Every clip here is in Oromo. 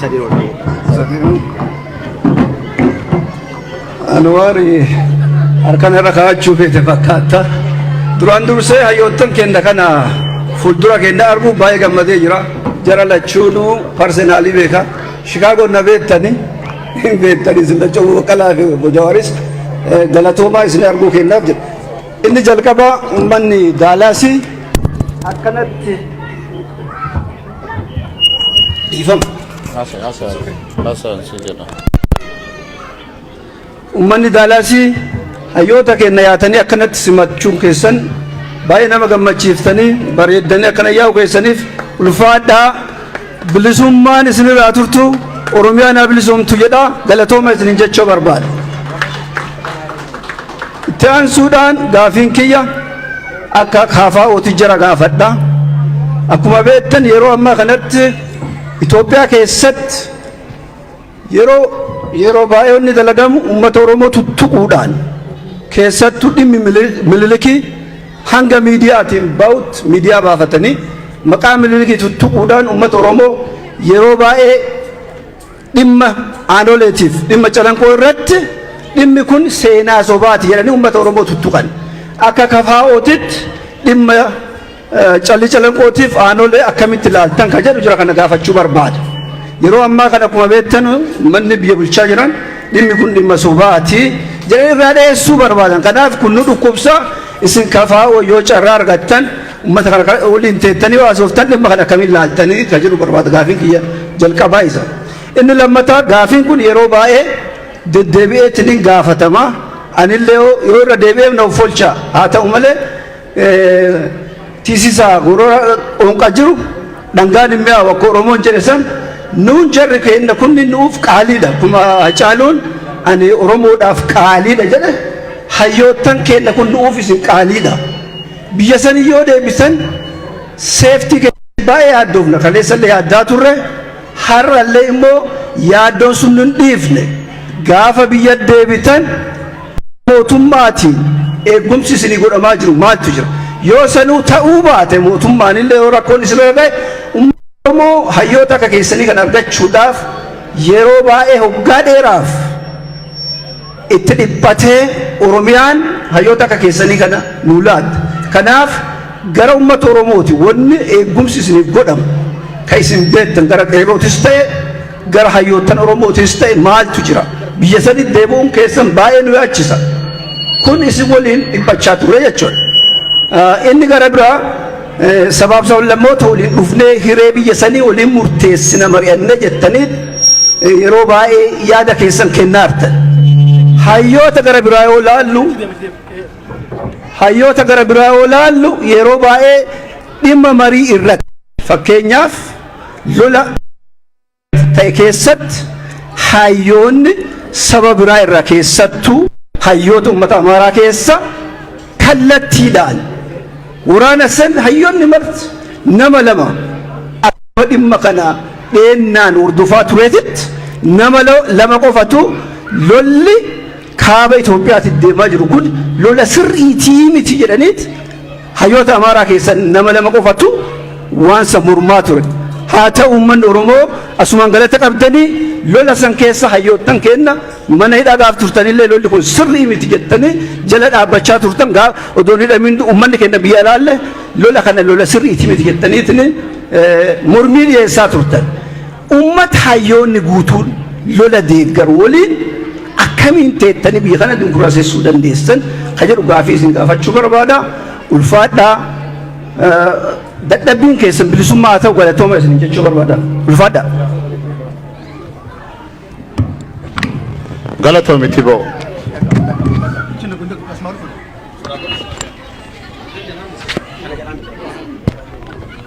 Sadi rola. Anwaari harkan irra kaa'achuu feete fakkaatta. Duraan dursee hayyoottan kenna kana fuuldura kenna arguu baay'ee gammadee jira. Jara lachuunuu parsenaalii beeka. Shikaagoon na beektani. Hin beektani isin lachuu baqqalaa fi obbo Jawaaris eh, galatoomaa isin arguu kennaaf jedha. Inni jalqabaa uummanni Daalaasii akkanatti dhiifama. Haasa haasa haasa si jedha. Uummanni Daalaasii hayyoota keenya yaatanii akkanatti simachuun keessan baay'ee nama gammachiiftanii bareeddanii akkana yaa'u keessaniif ulfaadhaa bilisummaan isinirraa turtu Oromiyaan haa bilisoomtu jedha galatooma isinin jechuu barbaada. Itti aansuudhaan gaafiin kiyya akka KFO'ti jara gaafadha. Akkuma beektan yeroo ammaa kanatti Itoophiyaa keessatti yeroo yeroo baay'ee inni dalagamu uummata Oromoo tuttuquudhaan keessattuu dhimmi mililikii hanga miidiyaatiin ba'utti miidiyaa baafatanii maqaa mililikii tuttuquudhaan uummata Oromoo yeroo baay'ee Dhimma aanoleetiif dhimma calanqoo irratti dhimmi kun seenaa sobaati jedhanii uummata Oromoo tuttuqan. Akka KFOtitti dhimma callii calanqootiif aanolee akkamitti ilaaltan kan jedhu jira kana gaafachuu barbaada. Yeroo ammaa kana akkuma beektan manni biyya bulchaa jiran dhimmi kun dhimma sobaati jedhanii irraa dheessuu barbaadan. Kanaaf kun nu dhukkubsa isin KFO yoo carraa argattan Ummata kana kan waliin teettanii haasoftan dhimma kana akkamiin laaltanii kan jedhu barbaada gaafiin kiyya jalqabaa isa. Inni lammataa gaafiin kun yeroo baay'ee deddeebi'eetti ni gaafatama. Anillee yoo yoo irra deebi'eef na offolcha. Haa ta'u malee eh, tisisaa gorora onqa jiru dhangaan hin mi'aawu akka Oromoon jedhe san nuun jarri keenya kunni nuuf qaaliidha. Akkuma Hacaaluun ani Oromoodhaaf qaaliidha jedhe hayyoottan keenya kun nuuf isin qaaliidha. Biyya sanii yoo deebisan safety keenya baay'ee yaaddoofna. Kaleessa illee yaaddaa turre. Har'a illee immoo yaaddoon sun hin dhiifne. Gaafa biyya deebitan mootummaatiin eegumsi isinii godhamaa jiru maaltu jira? Yoo sanuu ta'uu baate mootummaan illee yoo rakkoon isinirra ga'e uummanni Oromoo hayyoota akka keessanii kan argachuudhaaf yeroo baay'ee hoggaa dheeraaf itti dhiphatee Oromiyaan hayyoota akka keessanii kana nuu laatte. Kanaaf gara ummata Oromooti wanni eeggumsi isiniif godhamu ka isin beettan gara qeerrootis ta'e gara hayyoottan Oromootis ta'e maaltu jira? Biyya sanitti deebi'uun keessan baay'ee nu yaachisa. Kun isin waliin dhiphachaa turre jechuudha. Inni gara biraa Sabaaf sablammoota waliin dhufnee hiree biyya sanii waliin murteessina mari'anne jettanii yeroo baay'ee yaada keessan kennaartan. Hayyoota gara biraa yoo laallu hayyoota gara biraa yoo laallu yeroo baay'ee dhimma marii irratti fakkeenyaaf lola ta'e keessatti hayyoonni saba biraa irraa keessattuu hayyoota uummata Amaaraa keessa kallattiidhaan waraana san hayyoonni marti nama lama akkuma dhimma kana dheennaan hordofaa tureetitti nama lama qofatu lolli kaaba Itoophiyaatti deemaa jiru kun lola sirriitii miti jedhaniit Hayyoota Amaaraa keessa nama lama qofatu waan san mormaa ture. Haa ta'u uummanni Oromoo asumaan galata qabdanii lola san keessa hayyoottan keenna mana hidhaa gaaf turtanillee lolli kun sirrii miti jettanii jala dhaabbachaa turtan gaa odoon hidhamiin uummanni keenya biyya alaalle lola kana lola sirriiti miti jettaniitiin mormii dhiyeessaa turtan. Ummata hayyoonni guutuun lola deeggaru waliin akkamiin teettanii biyya kana dimokiraasessuu dandeessan ka jedhu gaafii isin gaafachuu barbaada. Ulfaadhaa dadhabbiin keessan bilisummaa haa ta'u galatooma isin jechuu barbaada. Ulfaadhaa. Galatoomi Tiboo.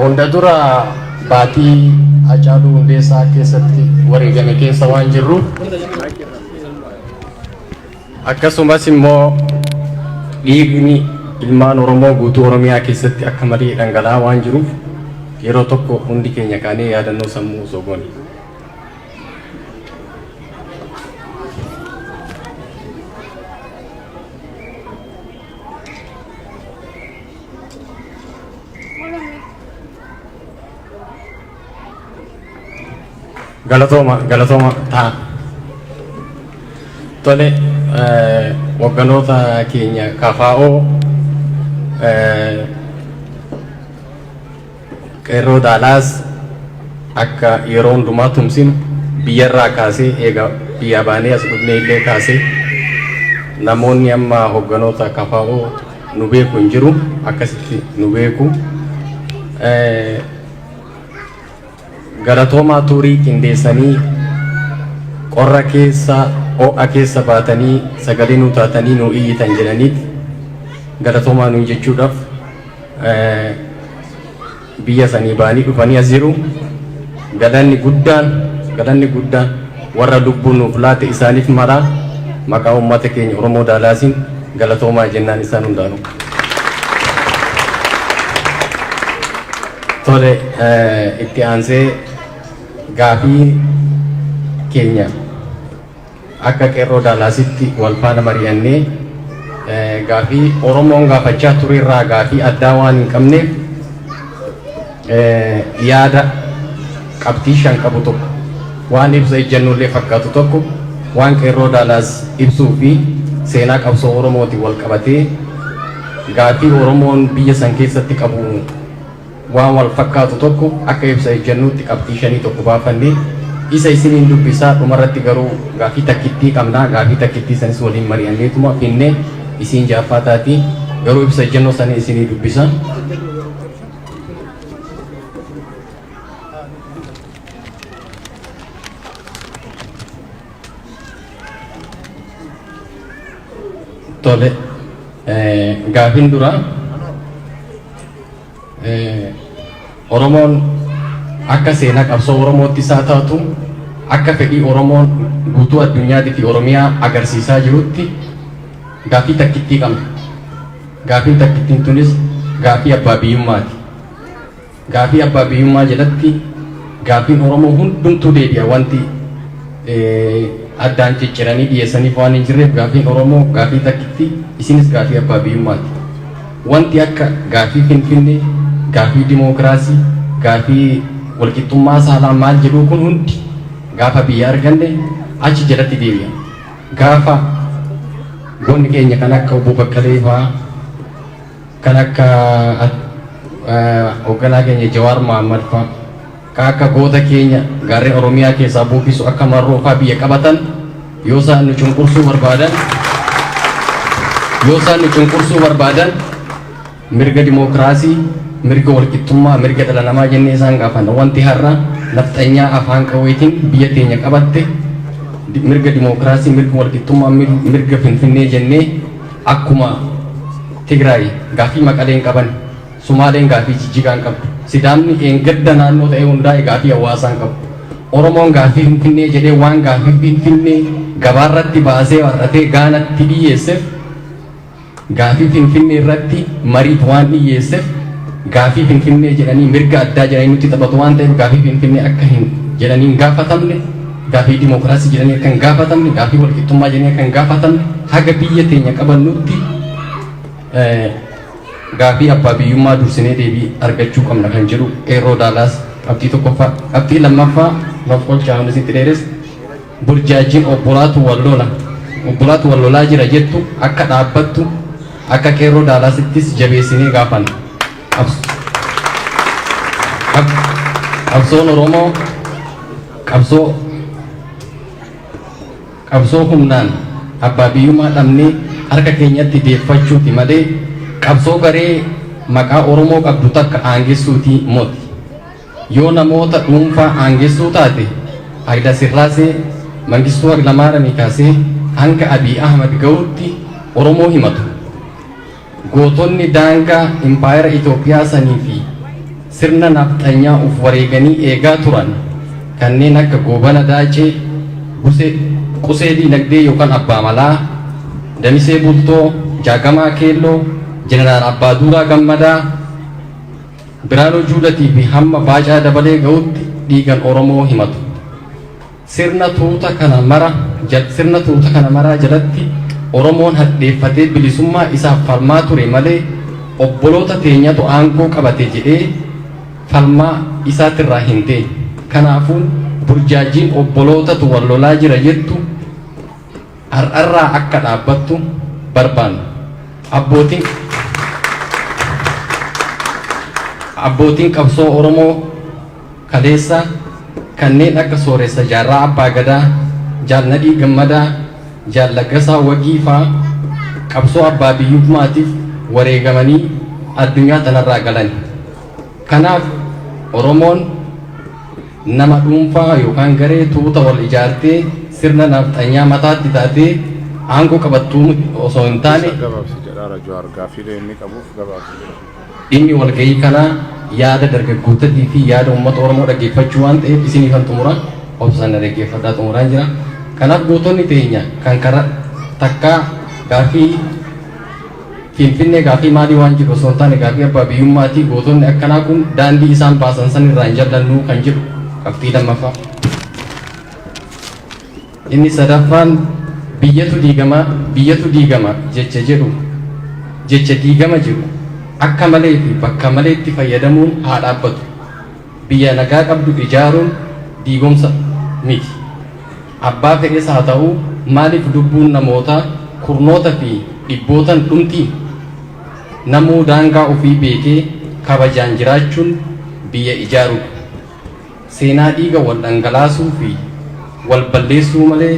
Hunda dura baatii Hacaaluu Hundeessaa keessatti wareegame keessa waan jirruuf akkasumas immoo dhiigni ilmaan Oromoo guutuu Oromiyaa keessatti akka malee dhangala'aa waan jiruuf yeroo tokko hundi keenya kaanee yaadannoo sammuu osoo goone. Galatooma galatooma ta'a. Tole eh, hogganoota keenya kafaa'oo eh, Qeerroo Daalaas akka yeroo hundumaa tumsinu biyyarraa kaasee eega biyyaa baanee as dhufnee illee kaasee namoonni amma hogganoota kfo nu beeku hin jiru akkasitti nu beeku. Galatoomaa tuurii qindeessanii qorra keessa ho'a keessa baatanii sagalee nuu taatanii nuu iyyitan jedhaniiti galatoomaa nuun jechuudhaaf biyya sanii ba'anii dhufanii as jiru. Galanni guddaan galanni guddaan warra lubbuu nuuf laate isaaniif mara maqaa uummata keenya Oromoo Daalaasiin galatoomaa jennaan isaan hundaanuu. Tole itti aansee gaafii keenya Akka Qeerroo Daalaasitti wal faana mari'annee gaaffii Oromoon gaafachaa ture irraa gaaffii addaa waan hin qabneef yaada qabxii shan qabu tokko, waan ibsa ejjannoo illee fakkaatu tokko, waan Qeerroo Daalaas ibsuu fi seenaa qabsoo Oromootiin wal qabatee gaaffii Oromoon biyya san keessatti qabu, waan wal fakkaatu tokko akka ibsa ejjennootti qabxii shanii tokko baafanne. Isa isiniin dubbisa. Dhumarratti garuu gaaffii takkittii qabna. Gaaffii takkittii sanis waliin mari'anneetuma finne. Isiin ja'affaa taati. Garuu ibsa ejjennoo sanin isinii dubbisa. Tole, gaaffiin duraa. Oromoon akka seenaa qabsoo Oromootti isaa taatu akka fedhii Oromoon guutuu addunyaati fi Oromiyaa agarsiisaa jirutti gaaffii takkittii qabna. Gaaffiin takkittiin tunis gaaffii abbaa biyyummaati. Gaaffii abbaa biyyummaa jedhatti gaaffiin Oromoo hundumtuu deebi'a wanti addaan cicciranii dhiyeessaniif waan hin jirreef gaaffiin Oromoo gaaffii takkittii isinis gaaffii abbaa biyyummaati. Wanti akka gaaffii Finfinnee, gaaffii dimookiraasii, gaaffii walqixxummaa saalaa maal jedhuu kun hundi gaafa biyya arganne achi jalatti deebi'a. Gaafa goonni keenya kan akka Obbo Baqqalee fa'aa, kan akka hogganaa keenya Jawaar Mohammad fa'aa, Ka akka goota keenya gaarren Oromiyaa keessaa buuffisu akka Marroo faa biyya qabatan yoo isaan nu cunqursuu barbaadan yoo isaan nu cunqursuu barbaadan mirga dimookiraasii, mirga walqixxummaa, mirga dhala namaa jennee isaan gaafanna. Wanti har'a nafxanyaa afaan qawweetiin biyya teenya qabatte mirga dimookiraasii, mirga walqixxummaa, mirga Finfinnee jennee akkuma Tigraay gaaffii Maqaleen qaban Sumaaleen gaaffii Jijjigaa hin qabdu. Sidaamni dheengadda naannoo ta'ee hundaa'e gaaffii hawaasaa hin qabu. Oromoon gaaffii Finfinnee jedhee waan gaaffii Finfinnee gabaarratti baasee warratee Gaanatti dhiyyeessef, gaaffii Finfinnee irratti mariif waan dhiyyeessef, gaaffii Finfinnee jedhanii mirga addaa jedhanii nutti taphatu waan ta'eef gaaffii Finfinnee akka hin jedhanii hin gaafatamne, gaaffii dimookiraasii jedhanii akka hin gaafatamne, gaaffii walqixxummaa jedhanii akka hin gaafatamne haga biyya teenya qabannutti Gaafii abbaa biyyummaa dursinee deebii argachuu qabna kan jedhu Qeerroo Daalaas qabxii tokkoffaa. Qabxii lammaffaa maf qochaa hunda sitti dheeressa. Burjaajjiin obbolaatu wal lola, obbolaatu wal lolaa jira jettu akka dhaabbattu akka Qeerroo Daalaasittis jabeessinee gaafanna. Qabsoon Oromoo qabsoo. Qabsoo humnaan abbaa biyyummaa dhabnee harka keenyatti deeffachuuti malee qabsoo garee maqaa Oromoo qabdu takka aangessuuti moti. Yoo namoota dhuunfaa aangessuu taate Hailasirraasee, Mangistuu Hailamaaramii kaasee hanga Abiy Ahmad gahutti Oromoo himatu. Gootonni daangaa impaayera Itoophiyaa sanii fi sirna nafxanyaa uf wareeganii eegaa turan kanneen akka Goobana Daacee, Buse, Qusee Diinagdee yookan Abbaa Malaa, Damisee Bultoo, Jaagamaa Keelloo, Jeneraal Abbaaduuraa Gammadaa, Biraanuu Juudatii fi hamma Baacaa Dabalee ga'utti dhiigan Oromoo himatu. Sirna tuuta kana mara jal sirna tuuta kana maraa jalatti Oromoon hadheeffatee bilisummaa isaaf falmaa ture malee obboloota teenyatu aangoo qabate jedhee falmaa isaatirraa hin teenye. Kanaafuu burjaajjiin obbolootatu wal lolaa jira jettu har'arraa akka dhaabbattu barbaanna. Abbootiin Abbootiin qabsoo Oromoo. kaleessa kanneen akka Sooressa Jaarraa Abbaa Gadaa, Jaal Nadhii Gammadaa, Jaal Laggasaa Wagii faa qabsoo abbaa biyyummaatiif wareegamanii addunyaa tanarraa galani. Kanaaf Oromoon nama dhuunfaa yookaan garee tuuta wal ijaartee sirna Nafxanyaa mataatti taatee aangoo qabattuu osoo hin taane, Isa gabaabsi jedhaara Jawaar gaaffiilee inni qabuuf gabaabsi jedha. Dhimmi walgahii kanaa yaada dargaggootatii fi yaada uummata Oromoo dhaggeeffachuu waan ta'eef isiniifan xumura. Obsaan na dhaggeeffadhaa xumuraan jira. Kanaaf gootonni teenya kan kara takkaa gaaffii Finfinnee gaaffii maalii waan jedhu osoo hin taane gaaffii abbaa biyyummaati. Gootonni akkanaa kun daandii isaan baasan san irraa hin jallannu kan jedhu qabxii lammaffaa. Inni sadaffaan biyyatu diigama, biyyatu diigama jecha jedhu jecha diigama jedhu akka malee fi bakka maleetti fayyadamuun haa dhaabbatu. Biyya nagaa qabdu ijaaruun diigomsa miti. Abbaa fedhes haa ta'u maaliif lubbuun namoota kurnoota fi dhibbootan dhumti? Namuu daangaa ofii beekee kabajaan jiraachuun biyya ijaarudha. Seenaa dhiiga wal dhangalaasuu fi wal balleessuu malee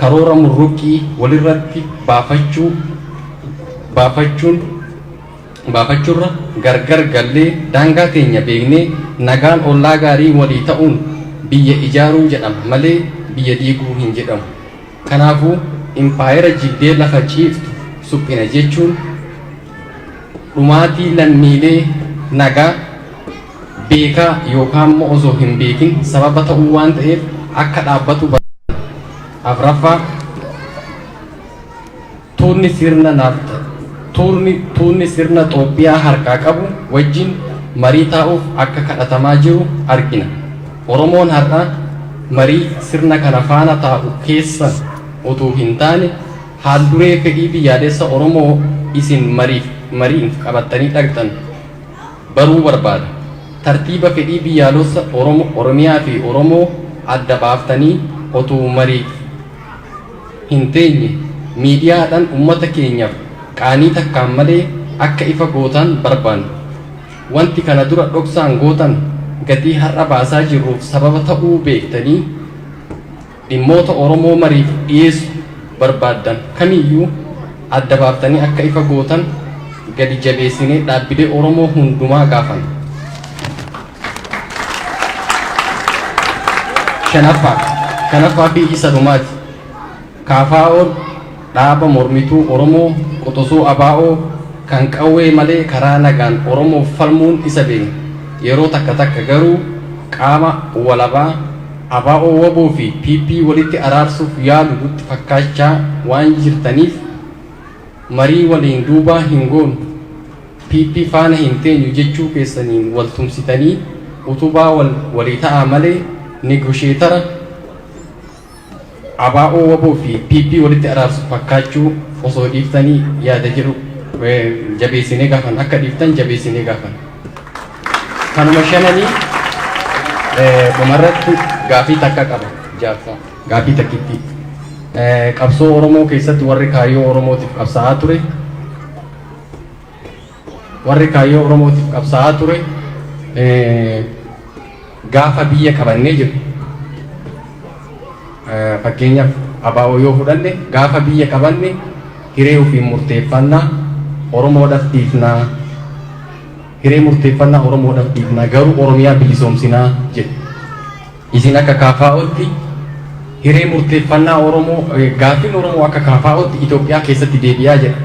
karoora murruqqii walirratti baafachuu baafachuun baafachurra gargar gallee daangaa teenya beeknee nagaan ollaa gaarii walii ta'uun biyya ijaaruu jedhama malee biyya diiguu hin jedhamu. Kanaafuu impaayera jigdee lafa ciiftu suphina jechuun dhumaatii lammiilee nagaa, beekaa yookaan immoo osoo hin beekin sababa ta'uu waan ta'eef akka dhaabbatu barbaada. Afraffaa tuunni sirna naafta tuurni tuunni sirna Xoophiyaa harkaa qabu wajjin marii taa'uuf akka kadhatamaa jiru argina. Oromoon har'a marii sirna kana faana taa'u keessa utuu hin taane haal duree fedhii biyyaalessa Oromoo isin mariif mariif qabattanii dhaqxan baruu barbaada. Tartiiba fedhii biyyaalossa Oromo, Oromiyaa fi Oromoo adda baaftanii otuu mariif hin teenye miidiyaa dhan ummata keenyaf qaanii takkaan malee akka ifa gootaan barbaanna. Wanti kana dura dhoksaan gootan gatii har'a baasaa jirruuf sababa ta'uu beektanii, dhimmoota Oromoo mariif dhiyeessu barbaaddan kamiyyuu adda baaftanii akka ifa gootan gadi jabeessinee dhaabbilee Oromoo hundumaa gaafanna. Shanaffaa, shanaffaa fi isa dhumaati. KFO'n Dhaaba mormituu Oromoo quxusuu ABO kan qawwee malee karaa nagaan Oromoof falmuun isa beekna. Yeroo takka takka garuu qaama walabaa ABO-wbo fi PP walitti araarsuuf yaalu nutti fakkaachaa waan jirtaniif marii waliin duubaa hin goonu, PP faana hin teenyu jechuu keessaniin wal tumsitanii utubaa walii ta'aa malee negosheetara, ABO, wbo fi PP walitti araarsu fakkaachuu osoo dhiiftanii yaada jedhu jabeessinee gaafanna. Akka dhiiftan jabeessinee gaafanna. Kanuma shananii dhumarratti gaafii takka qaba jaarsa. Gaafii takkittii. Qabsoo Oromoo keessatti warri kaayyoo Oromootiif qabsaa'aa ture, Warri kaayyoo Oromootiif qabsaa'aa ture gaafa biyya qabannee jedhu. Fakkeenyaaf ABO yoo fudhanne gaafa biyya qabanne hiree ofiin murteeffannaa Oromoodhaaf dhiifnaa hiree murteeffannaa Oromoodhaaf dhiifnaa garuu Oromiyaa bilisoomsinaa jedhu. Isin akka KFOtti hiree murteeffannaa Oromoo, gaaffiin Oromoo akka KFOtti Itoophiyaa keessatti deebi'aa jedha.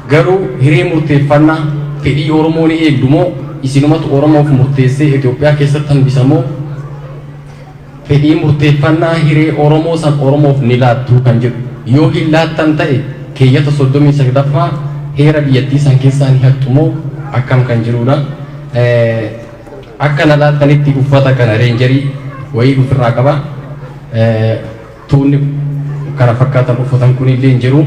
Garuu hiree murteeffannaa fedhii Oromoo ni eegdu moo isinumatu Oromoof murteessee Itoophiyaa keessatti hambisa moo fedhii murteeffannaa hiree Oromoo san Oromoof ni laattuu kan jedhu. Yoo hin laattan ta'e keeyyata 39ffaa heera biyyattii san keessaa ni hattu moo akkam kan jirudha. Akka na laaltanitti uffata kana reenjarii wayii ufirraa qaba. Tuunni kana fakkaatan uffatan kunillee hin jiru.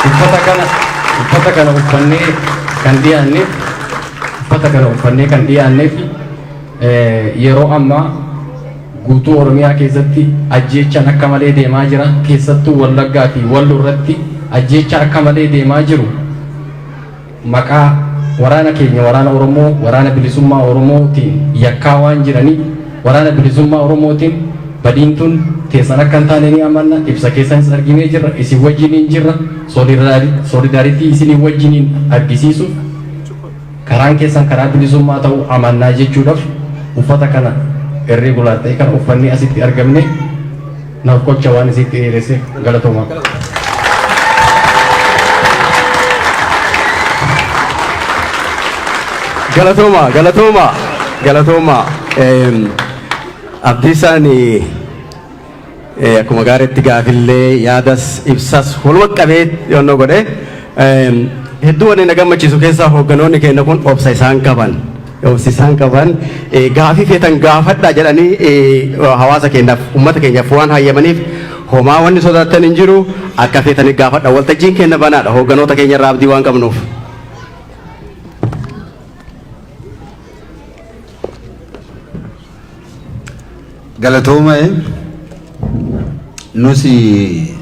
Uffata kana uffata kana uffannee kan dhiyaanneef uffata kana uffannee kan dhiyaanneef yeroo ammaa guutuu Oromiyaa keessatti ajjeechaan akka malee deemaa jira. Keessattuu Wallaggaa fi Wallo irratti ajjeechaa akka malee deemaa jiru. maqaa waraana keenya waraana Oromoo, waraana bilisummaa Oromoo tiin yakkaa waan jiraniif waraana bilisummaa Oromoo tiin badiin tun teessan akka hin taane ni amanna, ibsa keessanis arginee jirra, isin wajjiniin jirra, solidarity isiniin wajjiniin argisiisuuf karaan keessan karaa bilisummaa ta'uu amannaa jechuudhaf uffata kana irregular ta'e kana uffannee asitti argamne. Naf qocha waan isiitti dheeressef galatoma. Galatoomaa galatoomaa galatoomaa Eem, Abdiisaan eh, akkuma gaariitti gaafillee yaadas ibsas waluma qabee yoonnoo godhe Eem, hedduu wanni na gammachiisu keessaa hoogganoonni keenya kun obsa isaan qaban dhoofsisaan qaban gaafii feetan gaafadhaa jedhanii hawaasa keenyaaf ummata keenyaaf waan hayyamaniif homaa wanni sodaattan hin jiru akka feetanii gaafadha waltajjiin keenya banaadha hoogganoota keenya irraa abdii waan qabnuuf. Galatooma nusi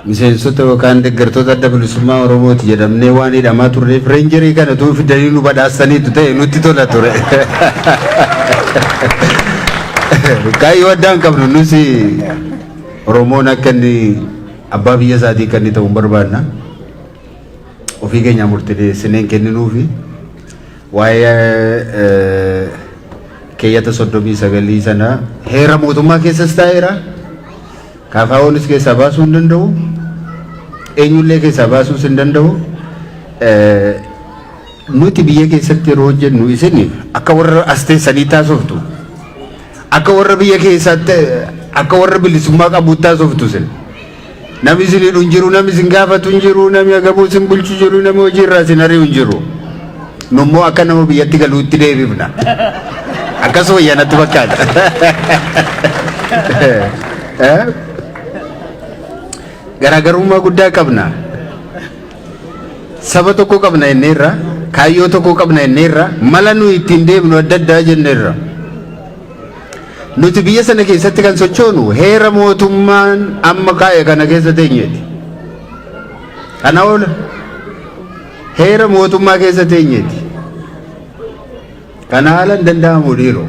Miseensota yookaan deggertoota Adda Bilisummaa Oromooti jedhamnee waan hidhamaa turreef reenjerii kana utuu fidanii nu badhaasaniitu ta'e nutti tola ture. Kaayyoo addaa hin qabnu nus Oromoon akka inni abbaa biyya isaatii kan inni ta'u hin barbaadna. Ofii keenyaa murteessinee hin kenninuufi waa'ee keeyyata soddomii sagalii sana heera mootummaa keessas taa'eera. KFOnis keessaa baasuu hin danda'u. Eenyullee keessaa baasuus hin danda'u. Nuti biyya keessatti yeroo hojjennu isin akka warra as teessanii taasoftu. Akka warra biyya keessaatti akka warra bilisummaa qabuutti taasoftu isin. Namni isin hidhu hin jiru, namni isin gaafatu hin jiru, namni agabuu isin bulchu jiru, namni hojii irraa isin ari'u hin jiru. Nu immoo akka nama biyyatti galuutti deebifna. Akkas wayya natti fakkaata. Eh? Garaagarummaa guddaa qabna. Saba tokko qabna jenneerra, kaayyoo tokko qabna jenneerra, mala nuyi ittiin deemnu adda addaa jenneerra. Nuti biyya sana keessatti kan sochoonu heera mootummaan amma kaa'e kana keessa teenyeeti. Kana oola. Heera mootummaa keessa teenyeeti. Kana haala hin danda'amu dhiiroo.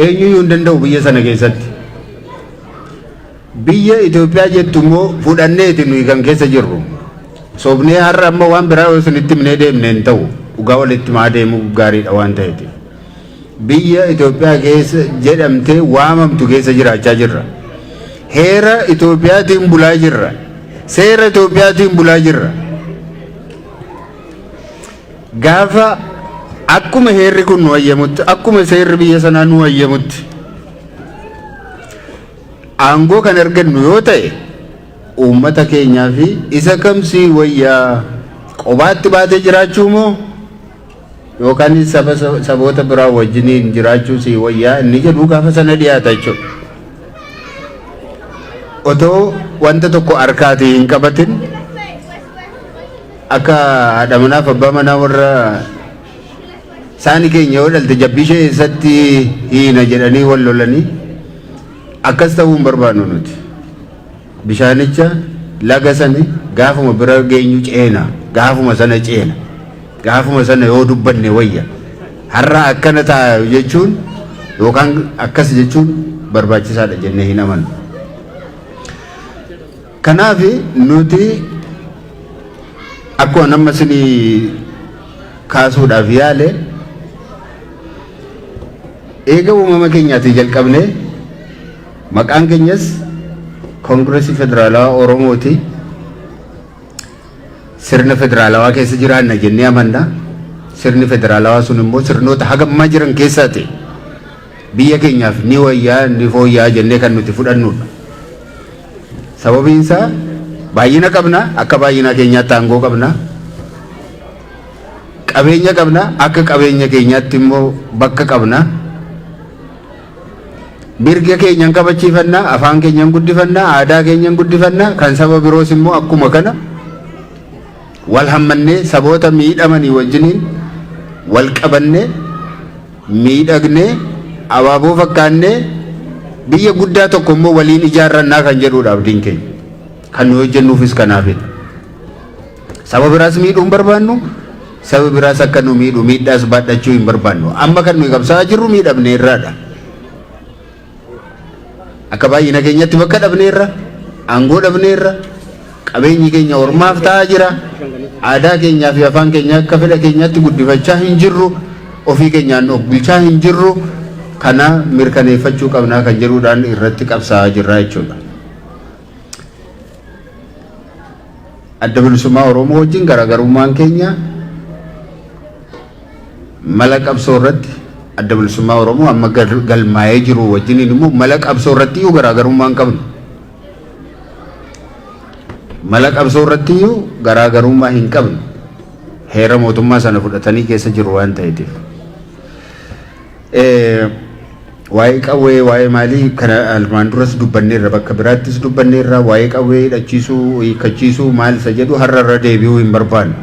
Eenyuyyuu hin danda'u biyya sana keessatti. Biyya Itoophiyaa jettu immoo fudhanneeti nuyi kan keessa jirru. Sobnee har'a amma waan biraa yoo isinitti himnee deemne hin ta'u. Dhugaa walitti himaa deemuu gaariidha waan ta'eeti. Biyya Itoophiyaa keessa jedhamtee waamamtu keessa jiraachaa jirra. Heera Itoophiyaatiin bulaa jirra. Seera Itoophiyaatiin bulaa jirra. Gaafa akkuma heerri kun nu hayyamutti, akkuma seerri biyya sanaa nu hayyamutti aangoo kan argannu yoo ta'e uummata keenyaa fi isa kamsii wayyaa qobaatti baatee jiraachuu moo yookaan saba saboota biraa wajjiniin jiraachuu sii wayyaa inni jedhu gaafa sana dhiyaata jechuudha. Otoo wanta tokko harkaatii hin qabatin akka haadha manaaf abbaa manaa warra saani keenya yoo dhalte jabbii ishee eessatti hiina jedhanii wal lolanii akkas ta'uu hin barbaannu nuti. Bishaanicha, laga sana, gaafuma bira geenyu ceena. Gaafuma sana ceena. Gaafuma sana yoo dubbanne wayya. Har'a akkana ta'a jechuun yookaan akkas jechuun barbaachisaadha jennee hin amannu. Kanaaf nuti akkuma nama isinii kaasuudhaaf yaale eega uumama keenyaatii jalqabnee Maqaan keenyas Kongirasii Federaalawaa Oromooti. Sirna federaalawaa keessa jiraanna jennee amanna. Sirni federaalawaa sun immoo sirnoota haga ammaa jiran keessaa ta'e biyya keenyaaf ni wayyaa ni fooyyaa jennee kan nuti fudhannudha. Sababiin isaa baay'ina qabna akka baay'inaa keenyaatti aangoo qabna. Qabeenya qabna akka qabeenya keenyaatti immoo bakka qabna. Mirga keenya hin kabachiifanna, afaan keenya hin guddifanna, aadaa keenya hin guddifanna, kan saba biroos immoo akkuma kana wal hammannee saboota miidhamanii wajjiniin wal qabannee miidhagnee abaaboo fakkaannee biyya guddaa tokko immoo waliin ijaarrannaa kan jedhuudha abdiin keenya. Kan nu hojjennuufis kanaafidha. Saba biraas miidhuu hin barbaannu, sabi biraas akka nu miidhu miidhaas baadhachuu hin barbaannu. Amma kan nuyi qabsaa'aa jirru miidhamne irraadha. Akka baay'ina keenyatti bakka dhabne irra, aangoo dhabne irra, qabeenyi keenya ormaaf ta'aa jira. Aadaa keenyaa fi afaan keenya akka fedha keenyaatti guddifachaa hin jirru. Ofii keenyaan of bulchaa hin jirru. Kana mirkaneeffachuu qabnaa kan jedhuudhaan irratti qabsaa'aa jirra jechuudha. Adda Bilisummaa Oromoo wajjin garaagarummaan keenya mala qabsoo irratti Adda Bilisummaa Oromoo amma gal- galmaa'ee jiru wajjin immoo mala qabsoo irratti iyyuu garaagarummaa hin qabnu. Mala qabsoo irratti iyyuu garaagarummaa hin qabnu. Heera mootummaa sana fudhatanii keessa jiru waan ta'eetiif. Waa'ee qawwee, waa'ee maalii kana armaan duras dubbanneerra bakka biraattis dubbanneerra waa'ee qawwee hidhachiisuu, hiikkachiisuu maal isa jedhu har'a irra deebi'uu hin barbaanne.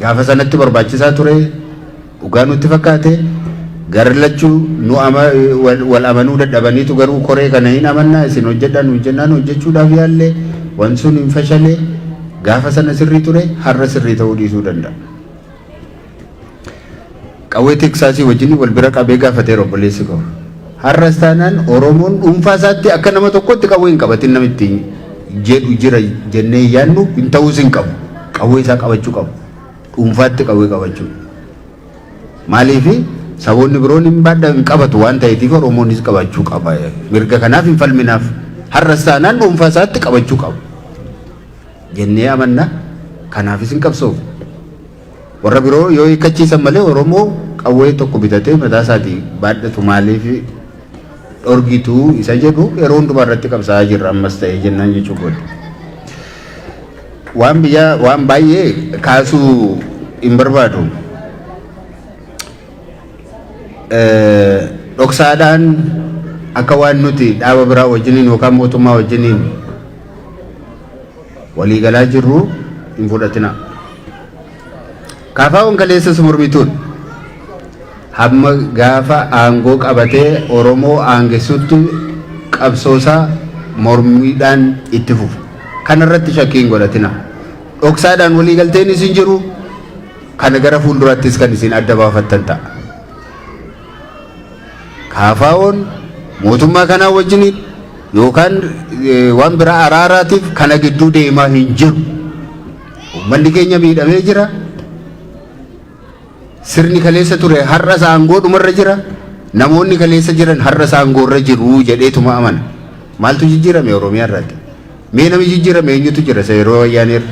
Gaafa sanatti barbaachisaa ture dhugaa nutti fakkaate garri lachuu nu ama wal wal amanuu dadhabaniitu garuu koree kana hin amannaa isin hojjedhaa nu jennaan hojjechuudhaaf yaalle wan sun hin fashalee gaafa sana sirrii ture har'a sirrii ta'uu dhiisuu danda'a. Qawwee Teeksaasii wajjin wal bira qabee gaafateera obboleessi koo. Har'as taanaan Oromoon dhuunfaa isaatti akka nama tokkootti qawwee hin qabatin nama ittiin jedhu jira jennee hin yaadnu hin ta'uus hin qabu. Qawwee isaa qabachuu qabu. Dhuunfaatti qawwee qabachuu. Maaliif saboonni biroon hin baadha hin qabatu waan ta'eetiif Oromoonis qabachuu qaba. Mirga kanaaf hin falminaaf. Har'as taanaan dhuunfaa isaatti qabachuu qabu. Jennee amanna. Kanaafis hin qabsoofnu. Warra biroo yoo hiikkachiisan malee Oromoo qawwee tokko bitatee mataa isaatii baadhatu maaliif dhorgitu isa jedhu yeroo hundumaa irratti qabsaa'aa jirra ammas ta'ee jennaan jechuu kooti. Waan biyyaa waan baay'ee kaasuu hin barbaadu. Dhoksaadhaan akka waan nuti dhaaba biraa wajjiniin yookaan mootummaa wajjiniin walii galaa jirru hin fudhatinaa. Kaafaa'oon kaleessas mormituun hamma gaafa aangoo qabatee Oromoo aangessutti qabsoosaa mormiidhaan itti fufa. Kana irratti shakkii hin godhatina. Dhoksaadhaan walii galteen isin jiru kana gara fuulduraattis kan isin adda baafattan ta'a. KFOn mootummaa kanaa wajjin yookaan waan biraa araaraatiif kana gidduu deemaa hin jiru. Uummanni keenya miidhamee jira. Sirni kaleessa ture har'as aangoo dhumarra jira. Namoonni kaleessa jiran har'as aangoorra jiru jedheetuma amana. Maaltu jijjiirame Oromiyaa irratti? Mee namni jijjiirame eenyutu jira isa yeroo wayyaanee irra?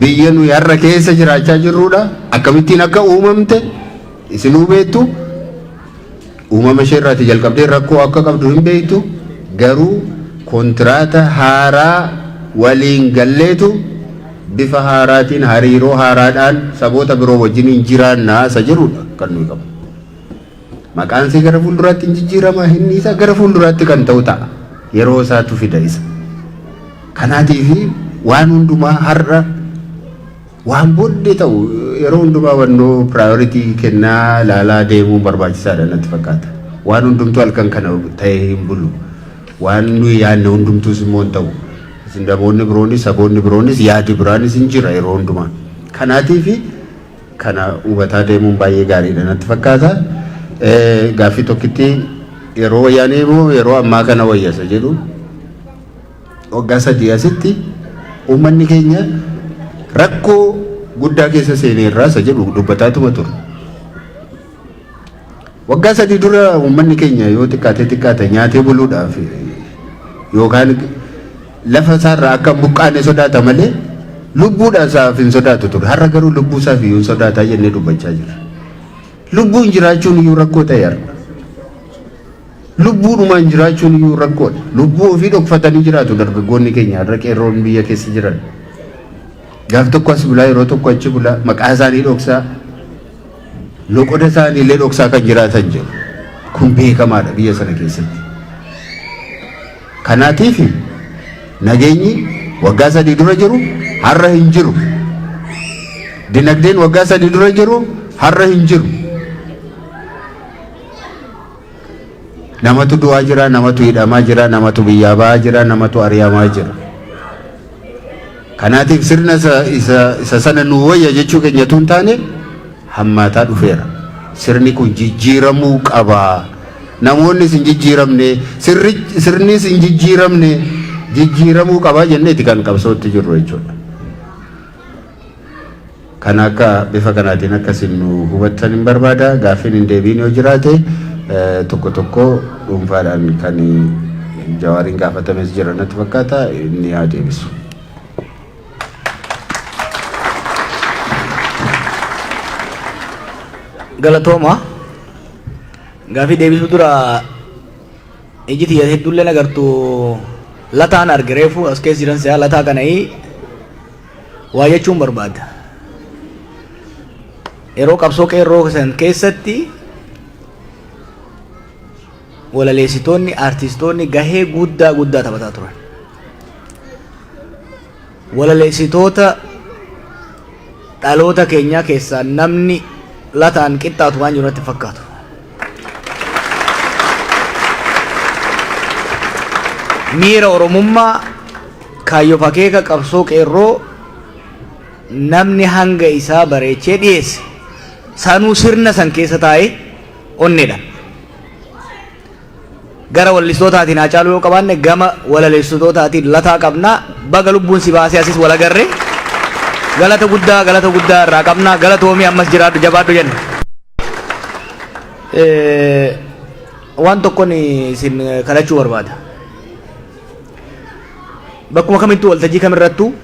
Biyya nuyi har'a keessa jiraachaa jirruudha. Akkamittiin akka uumamte isinuu beektu. Uumama ishee irraatii jalqabdee rakkoo akka qabdu hin beektu. Garuu kontiraata haaraa waliin galleetu bifa haaraatiin hariiroo haaraadhaan saboota biroo wajjiniin jiraannaa isa jedhuudha kan nuyi qabnu. Maqaan see gara fuulduraatti hin jijjiirama, himni isaa gara fuulduraatti kan ta'u ta'a. Yeroo isaatu fida isa. Kanaatiif waan hundumaa har'a waan booddee ta'u yeroo hundumaa wannoo priority kennaa ilaalaa deemuun barbaachisaadha natti fakkaata. Waan hundumtuu halkan kana ta'ee hin bulu. Waan nuyi yaadne hundumtuus immoo hin ta'u. Isin namoonni biroonis saboonni biroonis yaadi biraanis hin jira yeroo hundumaa. Kanaatiif Kana hubataa deemuun baay'ee gaariidha natti fakkaata. Gaaffii tokkitti yeroo wayyaanee moo yeroo ammaa kana wayya isa jedhu waggaa sadii asitti uummanni keenya rakkoo guddaa keessa seenee irraa isa jedhu dubbataatuma ture. Waggaa sadii dura uummanni keenya yoo xiqqaatee xiqqaate nyaatee buluudhaaf yookaan Lafa isaa irraa akka hin buqqaane sodaata malee lubbuudhaan isaaf hin sodaatu ture. Har'a garuu lubbuu isaaf iyyuu hin sodaataa jennee dubbachaa jirra. Lubbuun jiraachuun iyyuu rakkoo ta'e har'a. Lubbuudhumaan jiraachuun iyyuu rakkoodha. Lubbuu ofii dhokfatanii jiraatu dargaggoonni keenya har'a qeerroon biyya keessa jiran. Gaaf tokko as bulaa yeroo tokko achi bulaa maqaa isaanii dhoksaa loqoda isaanii illee dhoksaa kan jiraatan jiru. Kun beekamaadha biyya sana keessatti. Kanaatiifi nageenyi waggaa sadii dura jiru har'a hin jiru. Dinagdeen waggaa sadii dura jiru har'a hin jiru. Namatu du'aa jira, namatu hidhamaa jira, namatu biyyaa ba'aa jira, namatu ari'amaa jira. Kanaatiif sirna isa, isa, isa sana nuu wayya jechuu keenya utuu hin taane hammaataa dhufeera. Sirni kun jijjiiramuu qaba. Namoonnis hin jijjiiramne, sirri, sirnis hin jijjiiramne, jijjiiramuu qaba jenneeti kan qabsootti jirru jechuudha. Kana akka bifa kanaatiin akka isin nu hubattanin barbaada. Gaaffiin hin deebiin yoo jiraate tokko tokko dhuunfaadhaan kan Jawaariin gaafatames jira natti fakkaata inni haa deebisu. Galatooma. Gaaffii deebisuu dura iji tiyya hedduullee nagartu lataan arge reefu as keessa jiran si'a lataa kana'ii Waa jechuun barbaada. Yeroo qabsoo qeerroo san keessatti walaleessitoonni, aartistoonni gahee guddaa guddaa taphataa turan. Walaleessitoota dhaloota keenyaa keessaa namni lataan qixxaatu waan jiru natti fakkaatu. Miira Oromummaa, kaayyoof akeeka qabsoo qeerroo namni hanga isaa bareechee dhiyeesse sanuu sirna san keessa taa'ee onneedhaan Gara wallistootaatiin Haacaaluu yoo qabaanne gama walalessitootaatiin Lataa qabna. Baga lubbuun si baasee asis wal agarre. Galata guddaa galata guddaa irraa qabna. Galatoomii ammas jiraadhu jabaadhu jenna. Waan tokkon isin kadhachuu barbaada. Bakkuma kamittuu waltajjii kamirrattuu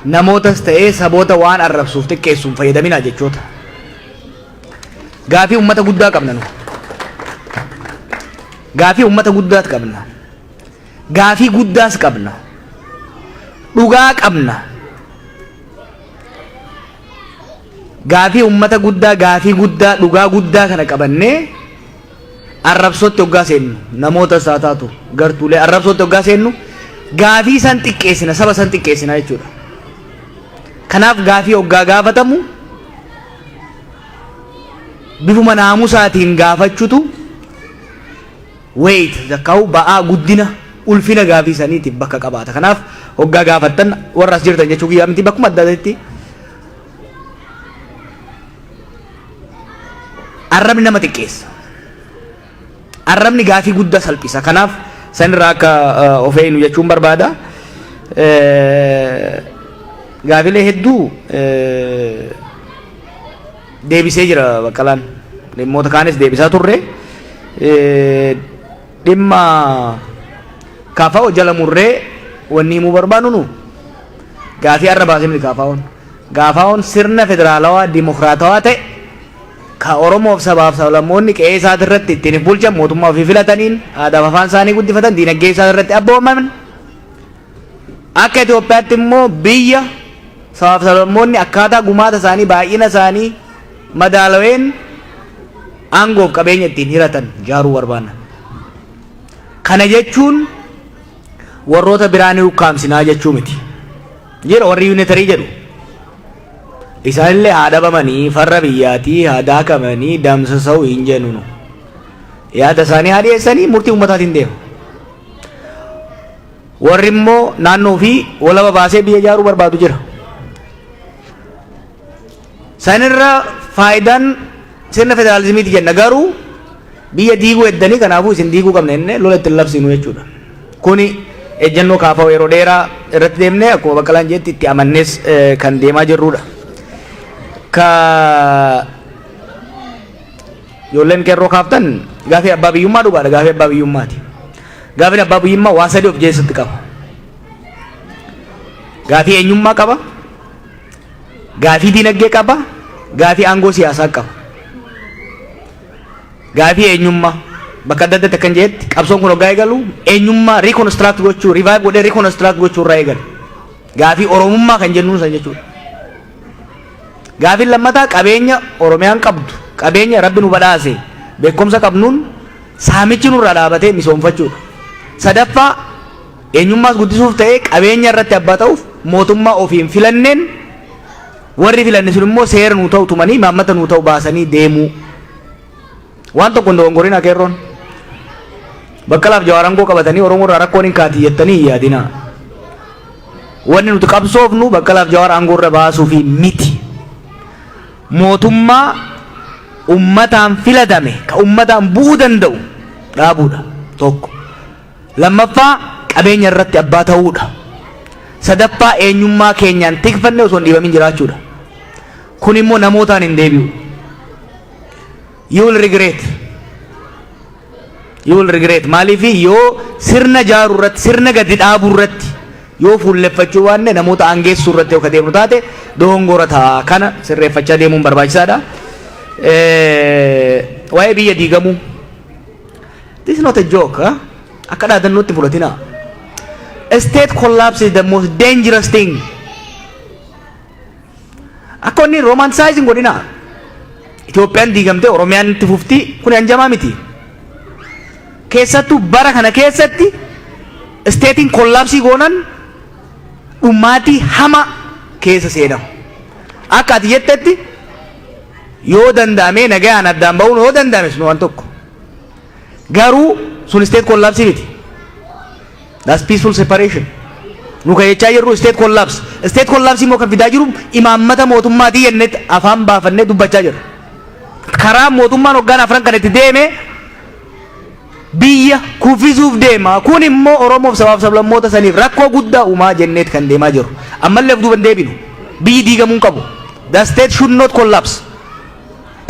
namootas ta'ee saboota waan arrabsuuf xiqqeessuun fayyadaminaa jechoota. Gaafii ummata guddaa qabna nu. Gaafii ummata guddaas qabna. Gaafii guddaas qabna. Dhugaa qabna. Gaafii ummata guddaa, gaafii guddaa, dhugaa guddaa kana qabannee arrabsootti hoggaa seennu namoota isaa taatu gartuulee arrabsootti hoggaa seennu gaafii san xiqqeessina saba san xiqqeessina jechuudha. Kanaaf gaafii hoggaa gaafatamu bifuma naamusaatiin gaafachutu weight zakkaa'u ba'aa guddina ulfina gaafii saniitiif bakka qabaata. Kanaaf hoggaa gaafattan warra as jirtan jechuu kiyyaa miti bakkuma adda addaatti arrabni nama xiqqeessa. Arrabni gaafii guddaa salphisa. Kanaaf san irraa akka of eegnu jechuun barbaada. Gaafilee hedduu deebisee jira Baqqalaan. Dhimmoota kaanis deebisaa turre. Dhimma kaafa'oo jala murree wanni himuu barbaannu nu gaafii arra baasee miti kaafaa'oon. Kaafaa'oon sirna federaalawaa dimokiraatawaa ta'e Ka Oromoof sabaaf sablammoonni qe'ee isaatirratti ittiin if bulchan, mootummaa ofii filataniin, aadaaf afaan isaanii guddifatan, diinagdee isaanirratti abboomaman, akka Itoophiyaatti immoo biyya sabaaf sablammoonni akkaataa gumaata isaanii, baay'ina isaanii madaalaween aangoof qabeenya ittiin hiratan ijaaruu barbaanna. Kana jechuun warroota biraa ni ukkaamsinaa jechuu miti. Jedha warri yuunitarii jedhu. Isaanille haa dhabamanii, farra biyyaatii haa daakamanii, damsasau hin jennu nu. Yaada isaanii haa dhiyeessanii, murtii ummataatiin deema. Warri immoo naannoo ofii walaba baasee biyya ijaaruu barbaadu jira. Sanirra faayidaan Sirna federaalizimiiti jenna garuu biyya diiguu heddanii kanaafuu isin diiguu qabna jennee lola ittiin labsiinu jechuudha. Kuni ejjennoo kaafaa yeroo dheeraa irratti deemnee akkuma Baqqalaan jedhetti itti amannees kan deemaa jirrudha. Ka ijoolleen qeerroo kaaftan gaafii abbaa biyyummaa dhugaadha gaafii abbaa biyyummaati. Gaafiin abbaa biyyummaa waa sadii of keessatti qaba. Gaafii eenyummaa qaba. Gaafii diinagdee qaba, gaafii aangoo siyaasaa qaba. Gaafii eenyummaa bakka adda addaatti akkan jedhetti qabsoon kun hoggaa eegalu eenyummaa reconstruct gochuu revive godhee reconstruct gochuu irraa eegale. Gaafii oromummaa kan jennuun san jechuudha. Gaafiin lammataa qabeenya Oromiyaan qabdu qabeenya rabbi nu badhaase beekumsa qabnuun saamichi nurraa dhaabatee misoomfachuudha. Sadaffaa Eenyummaas guddisuuf ta'ee qabeenya irratti abbaa ta'uuf mootummaa ofii hin filanneen warri filanne sun immoo seera nuu ta'u tumanii imaammata nuu ta'u baasanii deemuu. Waan tokko hin dogongorinaa qeerroon. Baqqalaaf Jawaar aangoo qabatanii Oromoo irraa rakkoon hin kaati jettanii hin yaadinaa. Wanni nuti qabsoofnu Baqqalaaf Jawaar aangoo irra baasuufi miti. Mootummaa ummataan filatame ka ummataan bu'uu danda'u dhaabuudha tokko. Lammaffaa qabeenya irratti abbaa ta'uu dha. Sadaffaa eenyummaa keenyaan tikfannee osoo hin dhiibamin jiraachuu dha. Kun immoo namootaan hin deebi'u. You will regret. You will regret. Maaliif yoo sirna jaaruu irratti, sirna gadi dhaabuu irratti yoo fuulleffachuu baanne namoota aangeessuu irratti yoo ka deemnu taate doongora ta'a. Kana sirreeffachaa deemuun barbaachisaadha. Eh, Waa'ee biyya diigamuu. This is not a joke. Huh? Akka dhaadannootti fudhatina. A state collapse is the most dangerous thing. Akka inni romanticizing godhina. Itoophiyaan diigamtee Oromiyaan itti fufti kun hanjamaa miti. Keessattuu bara kana keessatti isteetiin kollaapsii goonan dhumaatii hama keessa seenamu. Akka ati jettetti yoo danda'amee nagayaan addaan ba'uun yoo danda'ames nu waan tokko. Garuu sun state collapse miti. That's peaceful separation. Nu kan jechaa jirru state collapse. State collapse immoo kan fidaa jiru imaammata mootummaatii jennee afaan baafannee dubbachaa jirra. Karaa mootummaan hoggaan afran kan itti deeme biyya kuffisuuf deema. Kun immoo Oromoof sabaaf sablammoota saniif rakkoo guddaa uumaa jenneet kan deemaa jiru. Ammallee of duuba hin deebinu. Biyyi diigamuu hin qabu. The state should not collapse.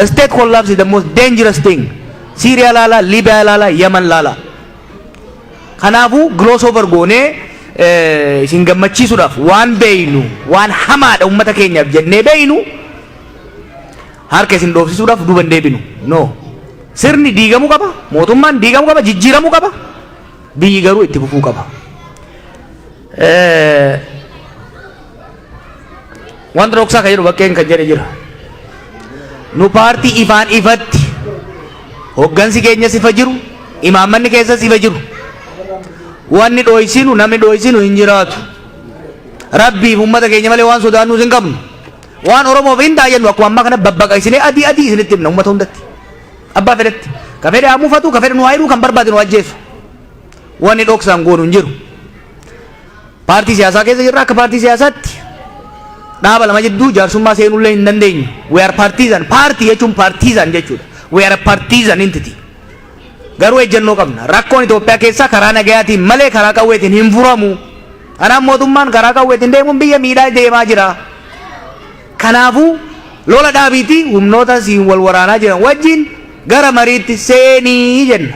State collapse is the most dangerous thing. Siiriyaa laala, Liibiyaa laala, Yaman laala. Kanaafuu gloss over goonee eh, isin gammachiisuudhaaf waan beeynu, waan hamaadha uummata keenyaaf jennee beeynu harka isin dhoofsisuudhaaf duuba hin deebinu. No. Sirni diigamuu qaba, mootummaan diigamuu qaba, jijjiiramuu qaba. Biyyi garuu itti fufuu qaba. Wanta dhoksaa kan jedhu bakkeen kan jedhe jira. Nu paartii ifaan ifatti hoggansi keenya sifa jiru, imaammanni keessa sifa jiru. Wanni dhooysinu namni dhooysinu hin jiraatu. Rabbiif uummata keenya malee waan sodaannuus hin qabnu. Waan Oromoof hin taayyannu akkuma ammaa kana babbaqaqsinee adii adii isinitti himna uummata hundatti. Abbaa fedhetti. Ka fedhe haa mufatu, ka fedhe nu haayiruu, kan barbaade nu ajjeesu. Wanni dhoksaan goonu hin jiru. Paartii siyaasaa keessa jirra akka paartii siyaasaatti dhaaba lama jidduu jaarsummaa seenullee hin dandeenyu. We are partisan. Paartii jechuun partisan jechuudha. We are a partisan entity. Garuu ejjennoo qabna. Rakkoon Itoophiyaa keessaa karaa nagayaatiin malee karaa qawweetiin hin furamu. Kanaaf mootummaan karaa qawweetiin deemuun biyya miidhaa deemaa jira. Kanaafuu lola dhaabiitii humnoota siin wal waraanaa jiran wajjin gara mariitti seenii jenna.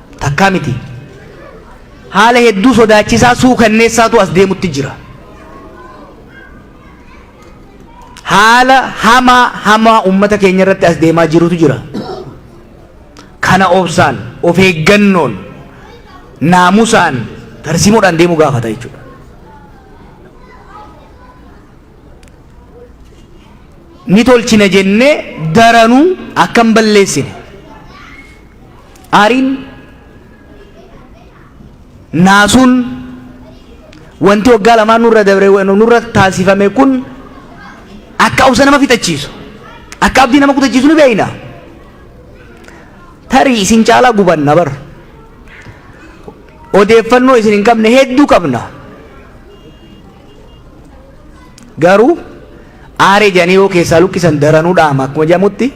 takkaa miti. Haala hedduu sodaachisaa suukanneessaatu as deemutti jira. Haala hamaa hamaa uummata keenya irratti as deemaa jirutu jira. Kana obsaan, of eeggannoon, naamusaan, tarsiimoodhaan deemuu gaafata jechuudha. ni tolchina jennee daranuu akka hin balleessine aariin naasuun wanti waggaa lamaan nurra dabre nurra taasifame kun akka obsa nama fixachiisu akka abdii nama kutachiisu ni beeyna tarii isin caalaa gubanna bar odeeffannoo isin hin qabne hedduu qabna Garuu aaree jedhanii yoo keessaa luqqisan daranuu dha'ama akkuma jedhamutti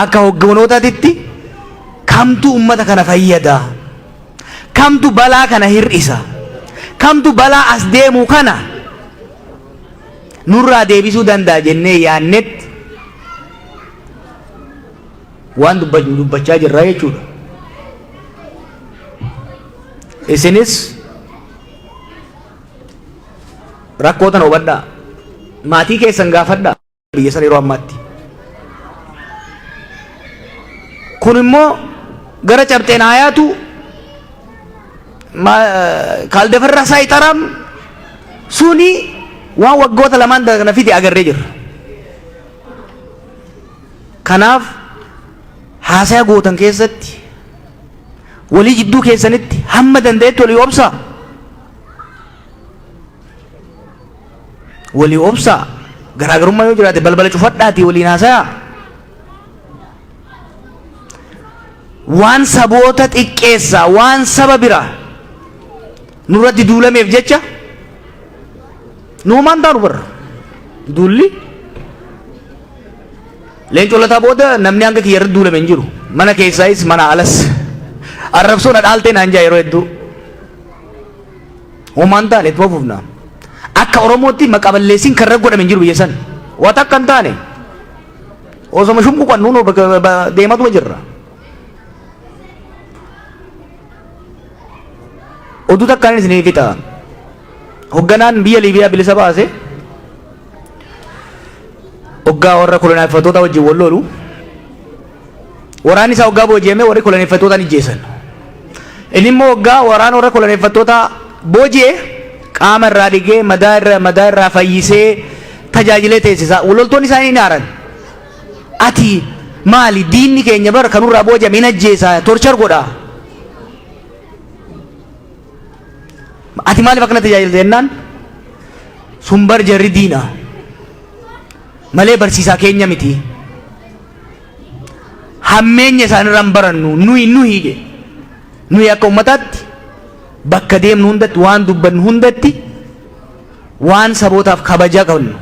akka hogganootaatitti kamtu ummata kana fayyada kamtu balaa kana hir'isa kamtu balaa as deemu kana nurraa deebisuu danda'a jennee yaannetti waan dubbachuu dubbachaa jirra jechuudha. Isinis Rakkoo tana hubadhaa. Maatii keessan gaafadhaa biyya san yeroo ammaatti. Kun immoo gara cabxeen aayaatu kaaldafarraa isaa ixaraam suni waan waggoota lamaan kana fide agarree jirra. Kanaaf haasaa gootan keessatti Walii jidduu keessanitti hamma danda'etti walii obsaa. Walii obsaa. Garaagarummaa yoo jiraate balbala cufadhaatii waliin haasayaa. Waan saboota xiqqeessaa waan saba biraa nurratti duulameef jecha Nuumaan taanu barra. Duulli leencoo lataa booda namni hanga kiyya irratti duulame hin jiru. Mana keessaayis mana alas. Arrabsoo na dhaaltee naan jaa yeroo hedduu. Uumaan taane itti fufna. Akka Oromootti maqaa balleessiin kan irra godhame hin jiru biyya san. Waa takka hin taane. Osoma shumbu kan nuunoo deematuma jirra. Oduu takkaan isin fixa. Hogganaan biyya Liibiyaa bilisa baase hoggaa warra koloneeffattoota wajjin wal lolu waraanni isaa hoggaa booji'amee warri koloneeffattootaan ijjeessan. Inni immoo hoggaa waraana warra koloneeffattootaa booji'e qaama irraa dhigee madaa irra madaa irraa fayyisee tajaajilee teessisa. Loltoonni isaa hin aaran. Ati maali diinni keenya bara kanurraa booji'ame hin ajjeesaa torchar godhaa. Ati maaliif akkana tajaajilta jennaan sun bar jarri diina malee barsiisaa keenya miti. Hammeenya isaanirraa hin barannu nuyi nuyi jedhe. Nuyi akka ummataatti bakka deemnu hundatti waan dubbannu hundatti waan sabootaaf kabaja qabnu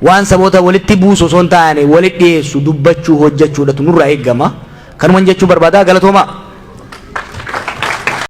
waan saboota walitti buusu osoo hin taane walitti dhiyeessu dubbachuu hojjechuudhatu nurraa eegama. Kanuman jechuu barbaadaa galatoomaa.